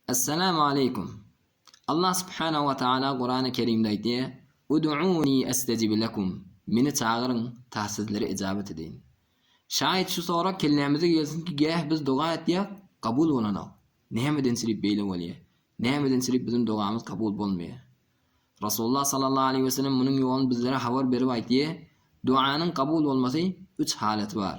Essalamu aleýkum. Allah subhanahu wa taala Kurany kerimde aýtýar, Uduuni estejib lekum, Meni çagyryň, ta sizlere ejabat edeýin. Şaýyt şu sorag kellämize gelsinki gäh biz doga etýäk, kabul bolanok. Nämedençirip beýle bolýar? Nämedençirip biziň dogamyz kabul bolmaýar? Rasulullah sallallahu aleýhi we sellem munuň ýoluny bizlere habar berip aýtýar, Duanyň kabul bolmasy üç halaty bar.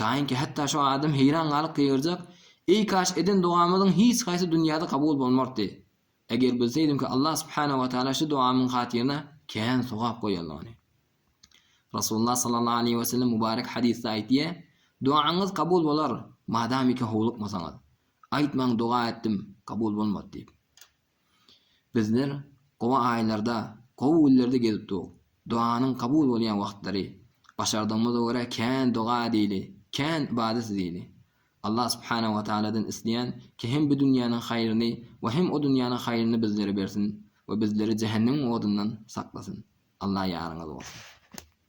Taýynki hatda şu adam heýran galyp gygyrjak, Eý kaş eden dogamyzyň hiç haýsy dünýäde kabul bolmardy. Eger bilseýdimki Allah subhanahu wa taala şu dogamyň hatyryna kän sogap goýandygyny. Rasulullah sallallahu aleýhi we sellem mubarek hadysda aýtýar, Dogaňyz kabul bolar, madamyka howlukmasaňyz. Aýtmaň doga etdim, kabul bolmady diýip. Bizler gowy aýlarda, gowy günlerde gezip dur. Doganyň kabul bolýan wagtlary. Başardygymyza görä kän doga edeli, kän ybadat edeli. Allah subhanahu we taaladan isleýän ki hem bu dünýäniň haýryny we hem o dünýäniň haýryny bizlere bersin we bizleri jähennemiň odundan saklasyn. Allah ýaryňyz bolsun.